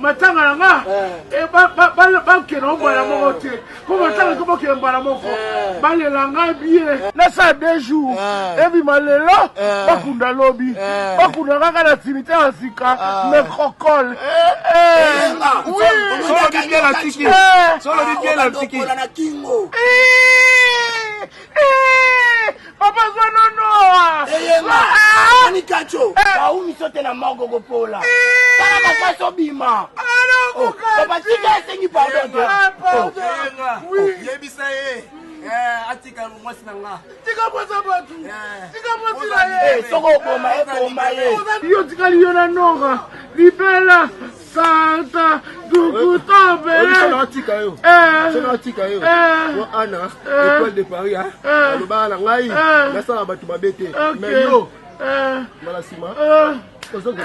matanga na nga eh. eh, bakenda o mbala moko te mpo eh. matanga to bakenda mbala moko balela ngai bie nasala de jour ebima lelo bakunda lobi bakunda kaka na simite ya sika necrocole solobi bie na tiki Eeeeeh papa zwa nonoa Eyema, nani kacho Baumi sote na morgue kopola Sala makasi obima Oh, papa tika esengi pardon te Oh, Yenga, yebisa ye eh, atika mwasi na nga tika mposa bato Eh. tika mposi na ye eh, soko oboma ye boma ye yo otikali yo na nora libela Santa Dukuta Bele. Sona atika yo. Sona atika yo. Yo Anna, étoile de Paris, hein. Alobaka na ngai, nasala bato mabe te. Mais yo, mala sima. Ozokola.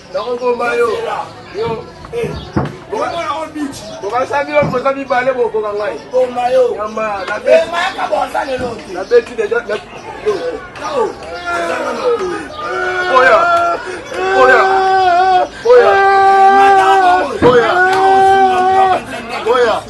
nakoboma yo yo bokasami yo mpoza mibale bokoka ngai nabeti deja oya oya oya oya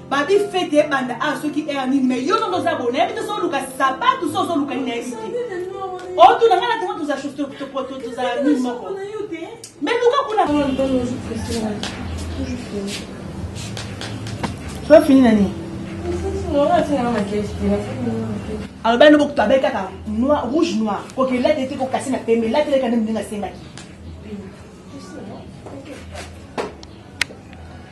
Babi fete ebanda awa soki heure nini mais yo nongo oza boye nayebi te so oluka sapatu so ozoluka nini nayebi te otuna ngai na ntango toza tozala nini moko mais luka kuna so fini na nini aloba yango bokutu abai kaka noir rouge noir koki elate te kokasi na pembe elate eleka nde moninga asengaki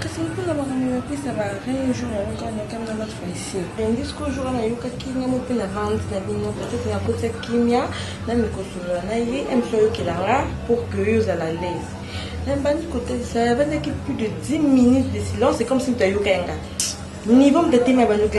kasi mpona makambo ya pesa ba rien jour yango kaka nakami na batu baisi ndisco jour wana ayokaki nga mo mpe na vente na bino peut-être nakoti ya kimia na mikosolola na ye mso ayokela nga pour que yo ozala laise nabandi kotalisa abandaki plus de 10 minutes de silence c'est comme si moto ayoka yanga niveau motatemi abanyoka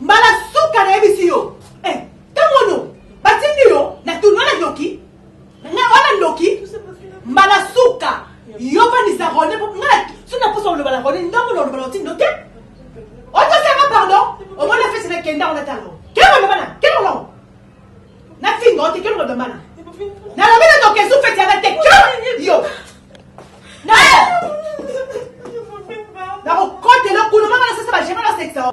Mbala suka nayebisi yo eh, ntango ono batindi yo na tournoi na ndoki nga wana ndoki mbala suka yo vandisa rone po nga so na posa oloba na rone ndambo na olobala otindo te otosanga pardon omoni afesi na kenda ona talo kelo lobana kelo longo na finga ote kelo lobana nalobi na ndoki esu feti yanga te kelo yo na nakokotela kuna mama nasesa bagema nasekisa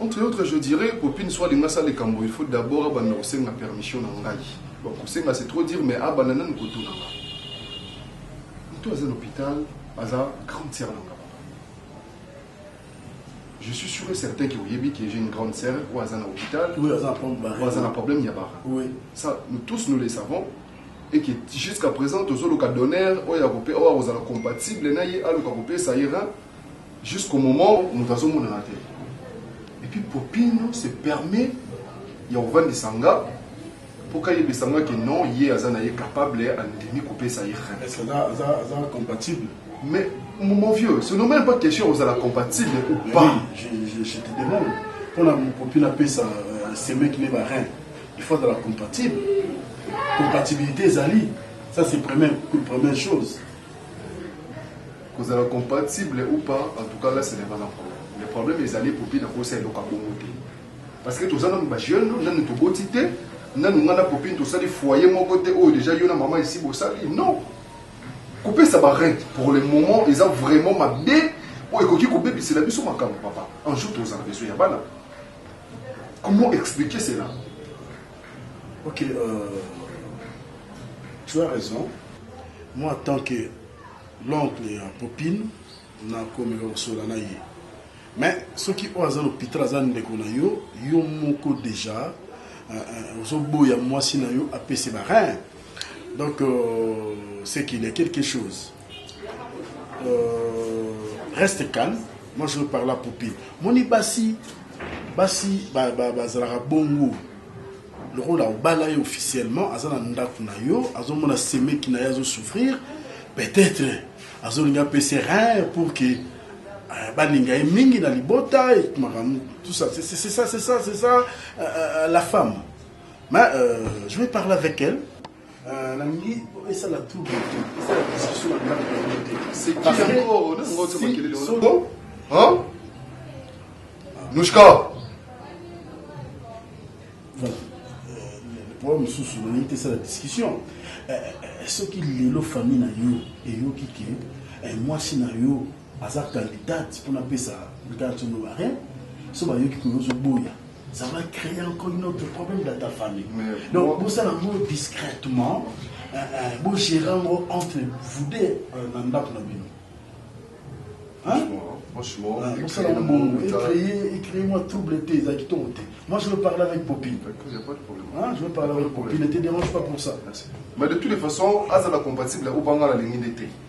Entre autres je dirais popine soit alingi asala likambo il faut d'abord abanda kosenga permission na ngai bon kosenga c'est trop dire mais abanda nanu kotuna nga mutu aza na hopital aza grande sœur na nga je suis sûr et certain que oyebi que j'ai une grande sœur oyo aza na hôpital Oui, aza na pompe barre. oyo aza na problème ya bara Oui. ça nous tous nous le savons et que jusqu'à présent tozoluka donneur oyo akope oyo akozala compatible na ye aluka kopesa ye rein Jusqu'au moment mutu azo monana te et puis popine se permet ya ko vandisa nga po ka yebisa nga ke non ye aza naye capable a ndimi ko pesa ye rein. Est ce que aza aza compatible? Mais mon vieux ce nomme pas question ya ko zala compatible ou pas. Oui je je te demande pona popine a pesa semeki ne ba rein il faut azala compatible compatibilite ezali ça c'est premier première chose. Kozala compatible ou pas en tout cas là ce n'est pas un problème. Le problème ezali popi na kosa eloko ya bongo te. Parce que toza nanu ba jeunes, nanu toboti te, nanu nga na popi tosali foyer moko te oyo dejà yo na maman esi bosali. Non. Kopesa ba rent pour le moment eza vraiment mabe oyo ekoki kobebisela biso makambo papa. Un jour tozala besoin ya bana. Comment expliquer cela? Ok euh, tu as raison. Moi en tant que l'oncle ya Popine nakomeka kosola na ye. Mais soki oyo aza l'hôpital aza ndeko na yo, yo moko déjà euh, euh, ozoboya mwasi na yo apese ba rein. Donc euh, c'est qu'il y a quelque chose. Euh, reste calme. Moi, je veux parler à Poupée. Moni Bassi, Bassi, bazalaka bongo. lokola obala ye officiellement aza na ndako na yo azomona semeki na ye azosouffrir peut-être azolingi apesa rein pour que euh, balinga ye mingi na libota makambo tout ça c'est ça c'est ça c'est ça euh, euh, la femme mais euh, je vais parler avec elle Euh, nalingi esala trouble te esala discussion na ndako na bino te nushka po mosusu nalingi te esala discussion euh, euh, soki lelo famille na yo eyoki ke mwasi na yo aza candidate pona pesa brigade sono ba rien so bayoki ko yozo boya ça va créer encore une autre problème dans ta famille donc bosala yango discrètement euh, euh, bogéra yango entre vous deux euh, na ndako na bino Franchement, ah, bosala yango bongo ecreye moi trouble te eza kitoko te moi je veux parler avec popine ah, je veux parler avec popine ne te dérange pas pour ça mais de toutes les façons azala compatible obanga na lingi nde te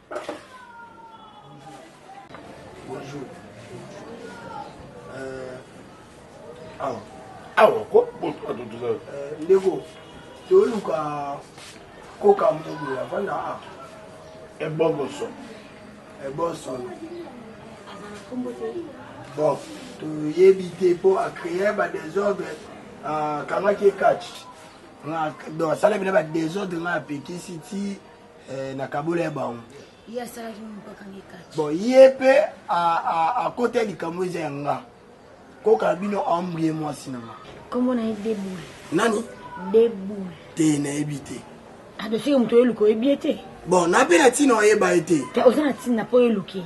Bonjour. Euh, awa. Awa ko bon to to to. Euh, ndeko. To luka ko ka mo bo ya vanda a. E bongo so. E bon so. Bon, to yebi te po a créer ba désordre a kanga ke catch. Na do sala bina ba désordre na pekisi ti eh, na kabola ya bango ye asalaki mokakanga ekati bon ye mpe akota likambo eza ya nga koka bino ambrie mwasi na nga nkombo na ye deboule nani deboule te nayebi te adosiki moto oyeluka oyebi ye te bon nape na ntina oyeba ye te te oza na ntina mpo oyeluki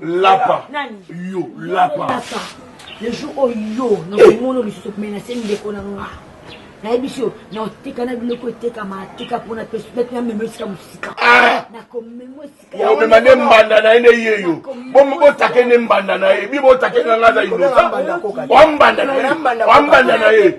lapa yo lapa le jour oyo nakomono lisusu menase ndeko na nga nayebisi yo naotika na biloko etekama atika mpo na pesu nati namema esika mosika ah! nakomema esika omema nde mbanda na ye nde ye yo botake nde mbanda na ye bi botake nga nga za inosa wa mbanda na ye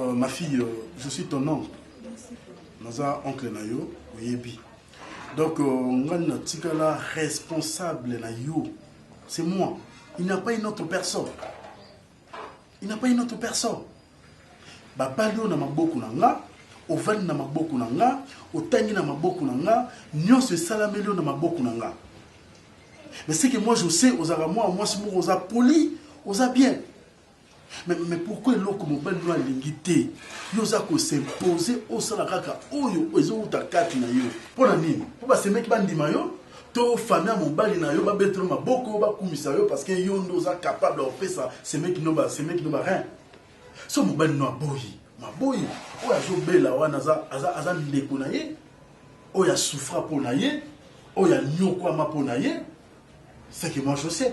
Euh, ma fille, euh, je suis ton oncle. naza oncle na yo oyebi donc euh, ngai natikala responsable na yo c'est moi il n'y a pas une autre personne il n'a pas une autre personne babali oyo na maboko na nga ovandi na maboko na nga otangi na maboko na nga nyonso esalameli yo na maboko na nga mais ce que moi je sais ozalaka mwana mwasi moko oza poli oza bien mais, mais pourquoi eloko mobali no alingi te yo oza kosimpose osala kaka oyo ezowuta kati na yo mpo na nini mpo basemeki bandima yo to famille ya mobali na yo babetela yo maboko bakumisa yo parce que yo nde oza capable ya kopesa semeki no ba semeki no ba rein so mobali no aboyi maboyi oyo azobela wana aza, aza, aza ndeko na ye oyo asufra mpo na ye oyo anyokwama mpo na ye seke moi je sais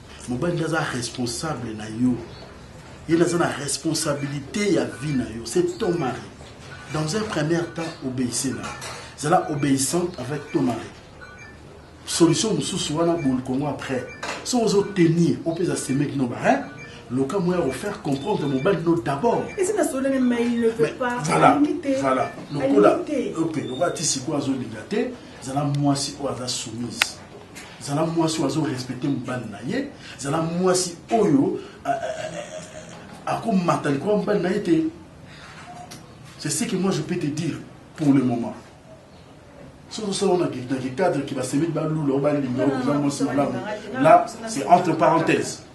Mobali nde aza responsable na yo, ye nde aza na responsabilite ya vie na yo, c'est ton mari. Dans un premier temps, obéissez na zala obéissante avec ton mari. Solution mosusu wana bol Congo après soki ozo tenir opesa semeki no barin loka moya ya kofaire comprendre mobali no d'abord lokola ti sikoyo azolinga te zala mwasi oyo aza soumise zala mwasi oyo azo respecte mobali na ye zala mwasi oyo akomata likolo ya mobali na ye te c'est ce que moi je peux te dire pour le moment soki osala ona dans le cadre ke basemeli balula o balinga okoza mwasi malamu là c'est entre parenthèse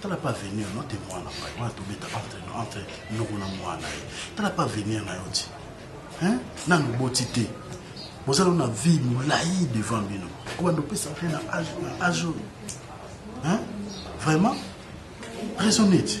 tala mpe avenir no te mwana pai wana tobeta entre no entre noko na mwana ye tala mpe avenir na yo ti nanu oboti te boza no na vie molai devant bino kobanda opesa mpe na age oyo vraiment raisonne ti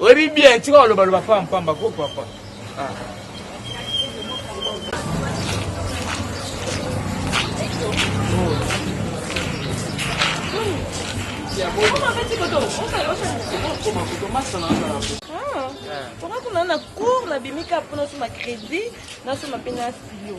Oyebi bien tika oloba loba pamba pamba ko papa. Ah. Toka kuna na cour nabimi ka mpo nasoma crédit nasoma mpe na stylo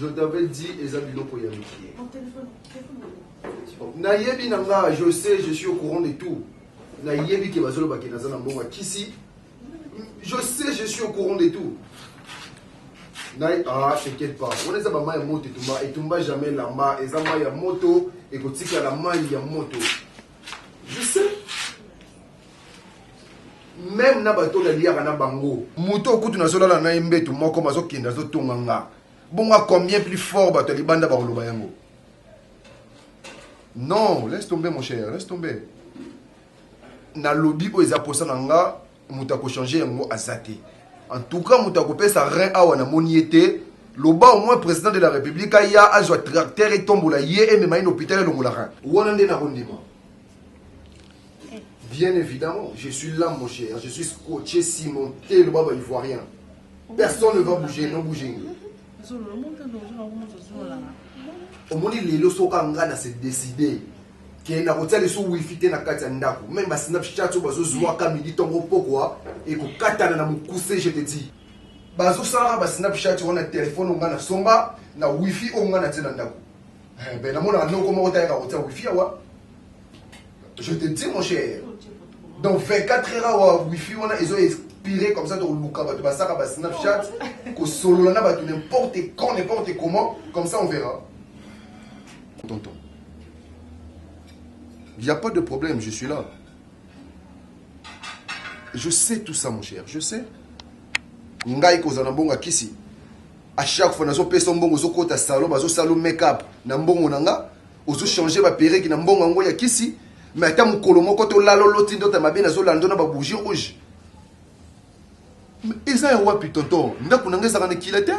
je t'avais dit eza biloko ya mikie nayebi na nga je sais je suis au courant de tout nayebi ke bazolobake naza na mbongo ya kisi Je sais, je suis au courant de tout. Naï, ah, t'inquiète pas. On est à ma ya moto etumba, etumba jamais lamba, et ma ya moto, et ko tika la main ya moto. Je sais. Même na bato na liaka na bango. Moto okutu na zola na mbetu moko mazo kenda zo tonga nga. Bonga combien plus fort bato libanda ba koloba yango. Non, laisse tomber mon cher, laisse tomber. Nalobi oyo eza posa na nga mutu ako changer yango aza te en tout cas mutu ako pesa rein awa na moni ye te loba au moins president de la republique aya azua tracteur etombola ye emema ye na hopital elongola rein wana nde nako ndima bien evidemment je suis là mon cher je suis scotche simon te loba ba ivoirien personne ne va bouger no bouger omoni lelo soka nga na se décider que nakotia lisusu wifi te na kati ya ndako meme ba snapchat oyo bazozuaka midi ntongo mpokwa ekokatana na mokuse je te dis bazosalaka ba snapchat wana telefone oyo ngai nasomba na wifi oyo ngai natie na ndako Eh, ben namonaka noko moko te ayaka kotia wifi awa je te dis mon cher donc 24 heures awa wifi wana ezo expire comme ça tokoluka bato basaka ba snapchat kosolola na bato n'importe quand n'importe comment comme ça on verra Tonton. Il n'y a pas de problème, je suis là. Je sais tout ça, mon cher. Je sais. Ngai kozana mbongo kisi. À chaque fois, nazo pesa mbongo zo kota salon, bazo salo make-up na mbongo na nga. Ozo changer ba perruque na mbongo ngo ya kisi. Mais ata mukolo moko to lalo loti ndota mabe nazo lando na ba bougie rouge. Mais eza ya wapi tonton? Ndako na nga ezaka na kila te?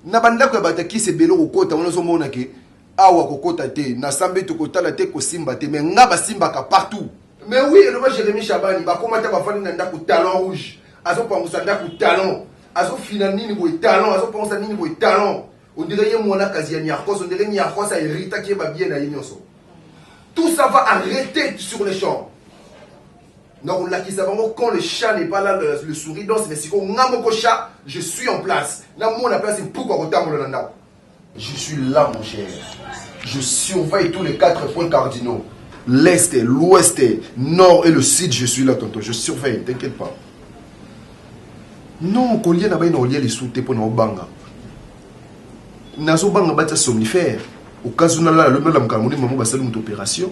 na bandako ya bato ya kisi ebele okokota wana ozomona ke awa kokota te na sambe tokotala te kosimba te mais nga basimbaka partout mais oui eloba jérémi shabani bakoma ata bafandi na ndako talon rouge azopangusa ndako talon azofina nini boye talon azopangusa nini boye talon ondire ye mwana kazi ya niarkos ondire niarkos aheritaki ye babie na ye nyonso tout ça va arrêter sur le champ Nakolakisa bango quand le chat n'est pas là le souris danse mais sikoyo nga moko chat je suis en place namona place mpuku akotambola na ndako. Je suis là mon cher. Je surveille tous les quatre points cardinaux. L'est, l'ouest, nord et le sud, je suis là tonton, je surveille, t'inquiète pas. Non, kolia na bai na olia les soutes pour na obanga. Nazo banga bata somnifère. Au cas où na la la la mkamuni mamu basali mutu opération.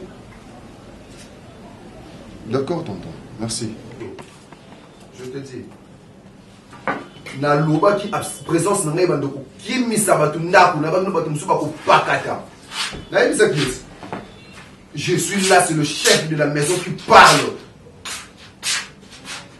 D'accord tonton, merci. Je te dis. nalobaki présence na ngai bando kokimisa bato ndako na bamino bato mosusu bakopakata nayebisaki esi je suis là c'est le chef de la maison qui parle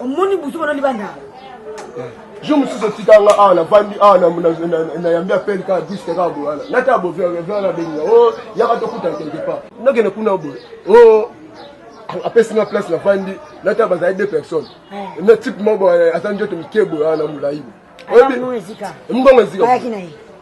omoni buzoba na libanda jour mosusu otika nga awa navandi awa nayambi apele kaka diske kaka boye wana nata bovi wana benga o yaka tokuta quelque part nakende kuna boye o apesi nga place navandi nata bazali deux personnes na type moko aza njoto mike boye wana molai boye oyebi mbongo ezika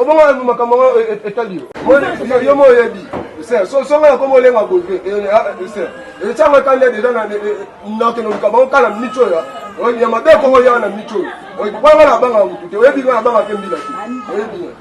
obongo makambo yango etali yo yo mo oyebi songa ya komo olenga boye etyanga etanda deja nakende oluka bango kala mico ya ya mabe kongo yanga na mico oyo banga na banga mutu te oyebi nga na banga mpe mbila te oyebi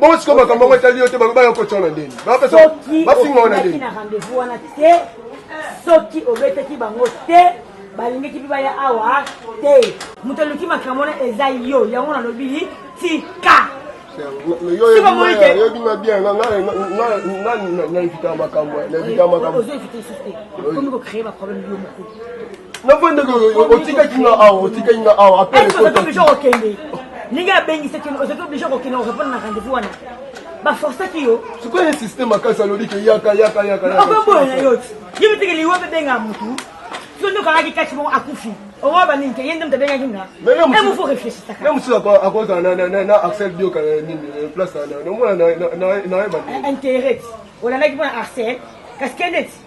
bongo sikoyo makambo yango etali yo te baloba yo kotia na ndeni bafinga wana ndeni na rendez-vous wana te soki obetaki bango te balingaki mpe baya awa te moto aluki makambo wana eza yo yango nalobi tika oyebinga bien naevitaka makambo naevitaka makambo ozo evite susu te okomi kocreye baproblème yo moko navanda otikaki nga awa otikaki nga awa apelekotaki okende ndenge abengisaki ozaki oblige kokende orepondre na rendez-vous wana baforsaki yo sikoyo insiste makasi alobi ke yaka yaka yaka okoboya na yo ti ye miteke liwa mpe benga motu so nde okangaki kati moko akufi owa baningi te ye nde moto abengaki nga emo fo réfléchisaka mosusu akozala na axel bioka nini place omona na ye ba intérêt olandaki mpo na axel kasi kende ti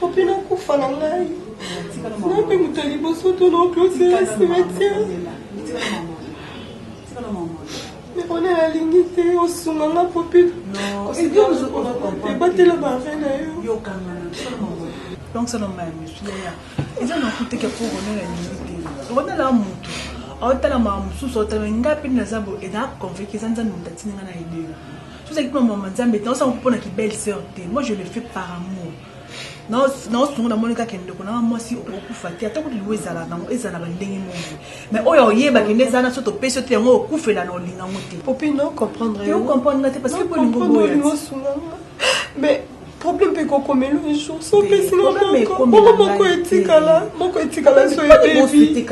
Popi na kufa na ngai. Na pe moto liboso to na clôture ya cimetière. Mais on est la lingi te osunga nga popi. Ebatela ba rein na yo. Donc ça non mais monsieur ya. Eza na kuteke pour on est la lingi te. On est la moto. aotalama mosusu aotalama ngai mpe naza boye eza conveke eza nzambe moto atindi ngai na elelo Soki ozali mpo na mama Nzambe te, osango mpo na ki belle sœur te. Moi je le fais par amour. Na osungu na moni kaka ndeko na nga mwasi okufa te, ata kutu liwa ezala nango ezala ba ndenge moko. Mais oyo oyeba kende eza na soto pesi te yango okufela na olinga ngo te. Popine o comprendre yo. Te o comprendre nga te parce que po lingo boya. Olingo sunga nga. Mais problème mpe ekokomela un jour so opesi nga moko moko moko etikala moko etikala so ebebi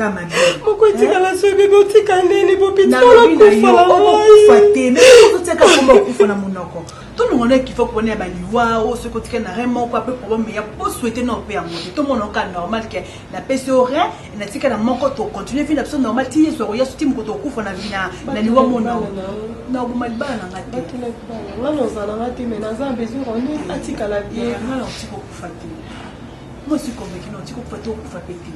moko etikala so ebebi otika nini bopitikolokufa na monoko tolongana ekifa kopona ya baliwa o soki otika na re moko ape problème ya po souhaite na ope yango te tomona oka normal ke napesi yo rien natika na moko tocontinue vi na biso normal ti yesu akoya soki moko tokufa na vi na liwa mona na oboma libala na nga te nga nozala nga te me naza besoin oni atikala bien eh, nga na otika okufa te moi si convaincu na otika okufa te okufa mpe te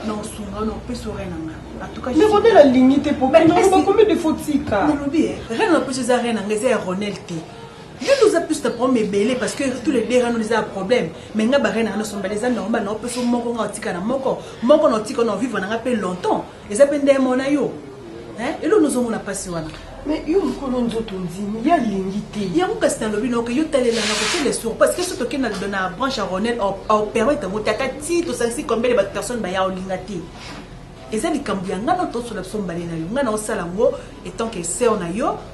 na osunga na opesi yo rien na nga ndekode nalingi te po bakomi defo tika nalobi rien na opesi eza rien na nga eza ya ronel te Yo nde oza plus na problème ebele parce que tous les deux rano eza ya problème mais nga barene rano sombele eza normal na opeso moko nga otika na moko moko na otika na vivre na nga pe longtemps eza pe nde mona yo hein elo nous omona pasi wana mais yo mokolo nzoto ondimi ye alingi te yango kasi nalobi noke yo talelanga kotele sur parce que so tokenda na branche ya ronel aopermete yango te ata ti tosangisi combien de bato personne baya olinga te eza likambo ya ngai na tosola biso mbale na yo ngai na osala yango etant que seur na yo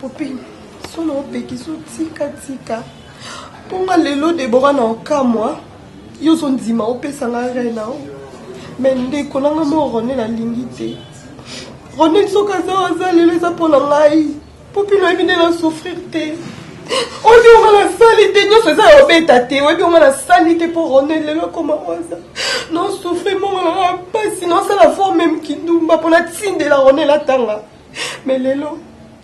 popine solo opekisi otikatika mponga lelo debora na okamwa yo ozondima opesa nga rai na yo me ndeko nanga mo rone nalingi te rone soki aza aza lelo eza mpo na ngai Popine oyebi nde na souffrir te oyebi onga na sali te nyonso eza ya obeta te oyebi onga na sali te mpo ronel lelo ekoma waza na souffrir mongo na nga mpasi na osala fort meme kindumba mpo natindela ronel atanga me lelo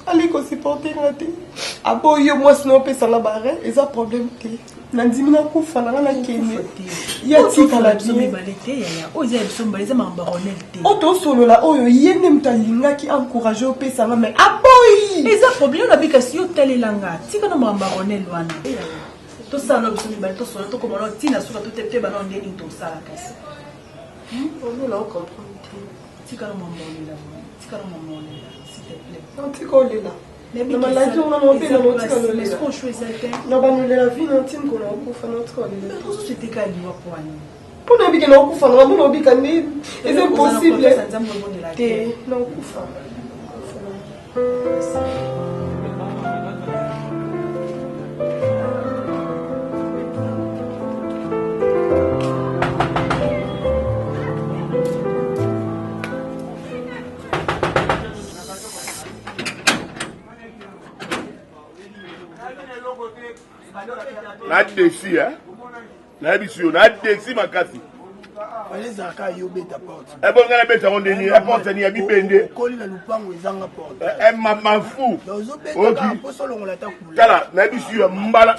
ali kosupporte nga te aboyi yo mwasi na opesanga bare eza problème te nandimi nakufa nanga nakende ya tikala o tosolola oyo ye nde moto alingaki encourage opesa nga mai aboyi eza problème nabi kasi yo talela nga tika na makambo ya ronel wana tosala na biso mibale tosolo tokoma na ntina suka to te te bana nde nini tosala kasi tika na makambo olela tika na makambo olela s'il te plaît tika olela na maladi wana na obela na otika lolela na banolela vi na ntini kona okufa na otika olela mpo na obike na okufa na bamona obika nde eza impossible te na okufa na desi eh? nayebisi yo na desi makasi ezalaka yo obeta porte ebonga na beta yango ndeni ya porte ni ya bibende okoli na lupango ezanga porte eh, eh, mama fu tala nayebisi yo mbala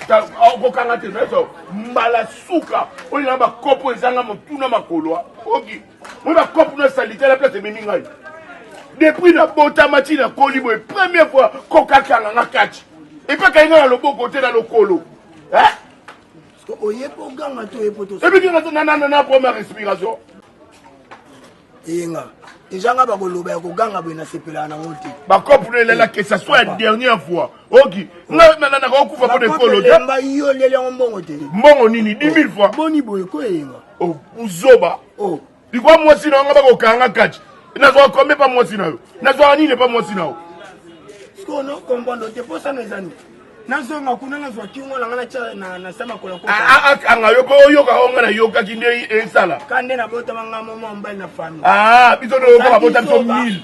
okokanga te nayeso mbala suka oyo na bakopo ezanga motuna makolo oki Mona kopo na salite la place ememi ngai. Depuis na botama ti na koli boye première fois koka kanga nga catch. Epa kai nga na loboko te na lokolo. Hein? Oye po ganga to epo to. Ebi kinga na na na première respiration. Eyenga. Deja nga bakoloba ya koganga boye nasepelaka nango te. Bakopo na elela que ça soit la dernière fois. Oki. Nga na na na kokufa po de kolo. Bakopo elemba yo leli yango mbongo te. Mbongo nini 10 000 fois. Boni boye ko eyenga. oh, buzoba oh. likwa mwasi na yonga bakokanga kaci nazwaka kombe pa mwasi na yo nazwaka nini pa mwasi na yo sikoyo nokombondo te mposana ezani nazonga kuna nazwa kingo na nga natya na se makolo akanga yo mpo oyoka o nga nayokaki nde esala ka nde nabotama nga moma mobali na fami ah, biso toyoka babota biso mille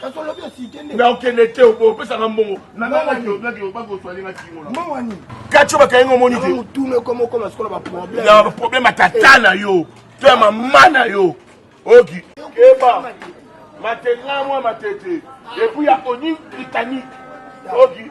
kasi olobi osite nde na okende te obo opesaka mbongo mbongo nini katio bakangi ngo omoni te motuna ekoma okoma sikola baproblème ya baproblème ya tata na yo to ya mama na yo oki keba matela mwa matete epuis ya oni britannique oki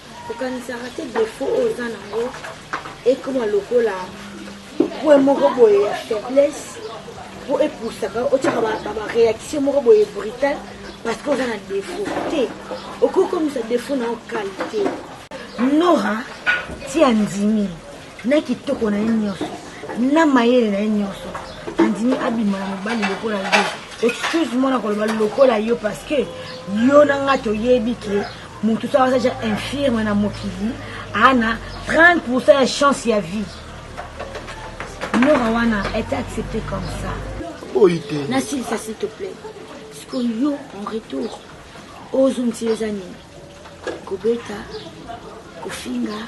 Okanisaka te defaut oyo oza nango ekoma lokola point moko boye ya faiblesse mpo epusaka otyaka bareaction moko boye brutal parce que oza na defaut te okoki komisa defaut na yo qualité nora ti andimi na kitoko na ye nyonso na mayele na ye nyonso andimi abima na mobali lokola yo excuse moi na koloba lokola yo parce que yo na nga toyebi ke motu so aza ja infirme na mokili ana 30 pourcent ya chance ya vie mora wana ete accepte comme ça oyi te nasilisa s'il te plaît sikoyo yo en retour ozongisi yo eza nini kobeta kofinga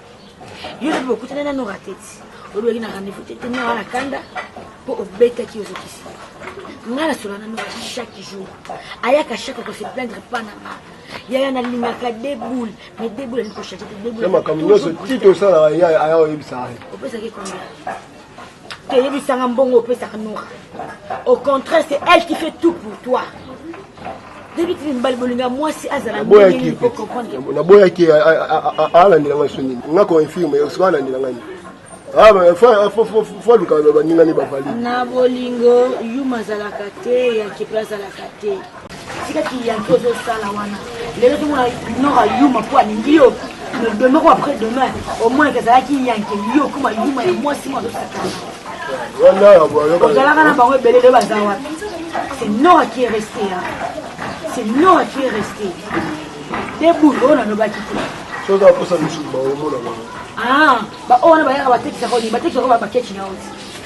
yo lobi bokutana nano rateti olobaki na rendez-vous te tena wana kanda mpo obetaki ozokisi ngai nasola nano chaque jour ayaka chaque kose plaindre mpa na nga yaya nalingaka deboul mais deboul alingi kochange te deboulmakambo nyonso ti tosalaka yaya aya oyebisaka opesaki combien te yebisanga mbongo opesaka nora au contraire c'est elle qui fait tout pour toi debiti mibali bolinga mwasi azala naboyaki alandela ngai so nini nga koinfirme soki alandela ngai nini fo aluka baninga nde bavali na bolingo yuma azalaka te ya kipre azalaka te tika kiyanki ozosala wana lelo tomona nor ayuma mpo alingi yo mais demain ko après demain au moins ezalaki yanke yo okoma yuma ya mwasi mwa azosakana ozalaka na bango ebele lelo baza wapi c'est nora qui est resté c'est nora qui est resté deboul oyo nalobaki te soki akosa misusu baomona bango baoyo wana bayaka batekisaka oni batekisaka bakeci na oti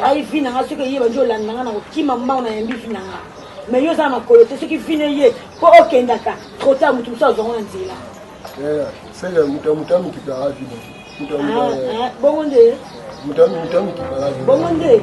ngai vi na nga soki eye bandi olanda nga na kokima mbango na yambi vi na nga mais yo oza na makolo te soki vi na eye mpo okendaka trotard moto mosusu azwango na nzela sele moto ya moto amikipaka vi bongo nde moto ya moto amikipaka vi bongo nde